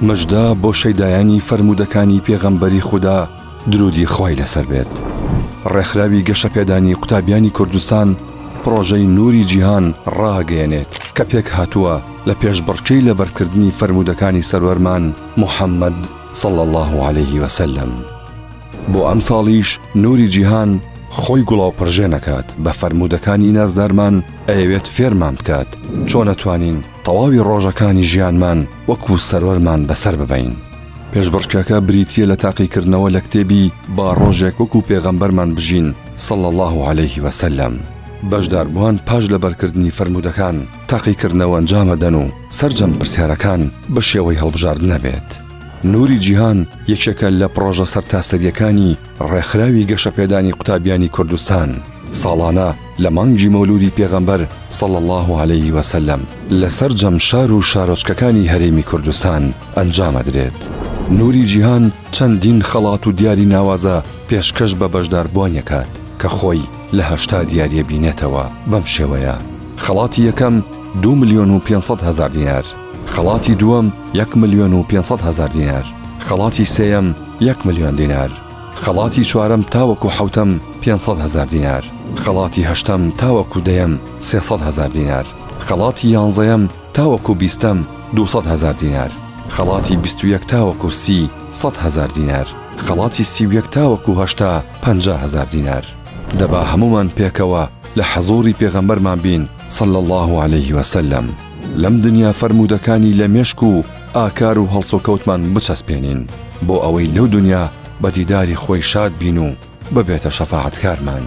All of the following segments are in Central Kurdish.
مژدە بۆ شەیدایانی فەرموودەکانی پێغەمبەری خودا درودی خوای لەسەر بێت ڕێکخراوی گەشەپێدانی قوتابیانی کوردستان پرۆژەی نوری جیهان ڕاگەیەنێت کە پێک هاتووە لە پێشبڕکێی لەبەرکردنی فەرمودەکانی سەروەرمان محەممەد صل الله عليه وسلم بۆ ئەم ساڵیش نوری جیهان خۆی گوڵاو پرژێنەکات بە فەرمودەکانی نازدارمان ئەیەوێت فێرمان بکات چۆنەتوانین تەواوی ڕۆژەکانی ژیانمان وەکو سەروەرمان بەسەر ببەین. پێشبڕکێکە بریتییە لە تاقیکردنەوە لە کتێبی با ڕۆژێک وەکو پێغەمبەرمان بژین صلی اللە علیه وسلم. بەشداربووان پاش لەبەرکردنی فەرموودەکان تاقیکردنەوە ئەنجام ئەدەن و سەرجەم پرسیارەکان بە شێوەی هەڵبژاردن ئەبێت. نوری جیهان یەکێکە لە پڕۆژە سەرتاسەرییەکانی ڕێکخراوی گەشەپێدانی قوتابیانی کوردستان ساڵانە لە مانگی مەولودی پێغەمبەر صلى الله عليه وسلم لە سەرجەم شار و شارۆچکەکانی هەرێمی کوردستان ئەنجامەدرێت. نوری جیهان چەندین خەڵات و دیاری ناوازە پێشکەش بە بەشداربووانەکات کە خۆی لە هەشتا دیاریە بینێتەوە بەم شێوەیە، خەڵاتی یەکەم، دوو ملیۆن و پێنج سەد هەزار دینار. خەڵاتی دووەم یەک ملیۆن و پێنج سەد هەزار دینار، خەڵاتی سێیەم یەک ملیۆن دینار، خەڵاتی چوارەم تاوەکو حەوتەم پێنج سەد هەزار دینار، خەڵاتی هەشتەم تاوەکو دەیەم سێ سەد هەزار دینار، خەڵاتی یانزەیەم تاوەکو بیستەم دوو سەد هەزار دینار، خەڵاتی بیست و یەک تاوەکو سی سەد هەزار دینار، خەڵاتی سی و یەک تاوەکو هەشتا پەنجا هەزار دینار. دەبا هەموومان پێکەوە لە حەزووری پێغەمبەرمان بین صلی اللە علیه وسلم. لەم دنیا فەرموودەکانی لە مێشک و ئاکار و هەڵسوکەوتمان بچەسپێنین بۆ ئەوەی لەو دنیا بە دیداری خۆی شاد بین و ببێتە شەفاعەتکارمان.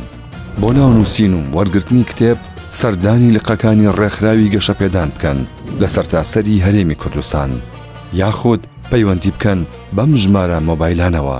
بۆ ناونووسین و وەرگرتنی کتێب سەردانی لقەکانی ڕێکخراوی گەشەپێدان بکەن لە سەرتاسەری هەرێمی کوردستان یاخود پەیوەندی بکەن بەم ژمارە مۆبایلانەوە.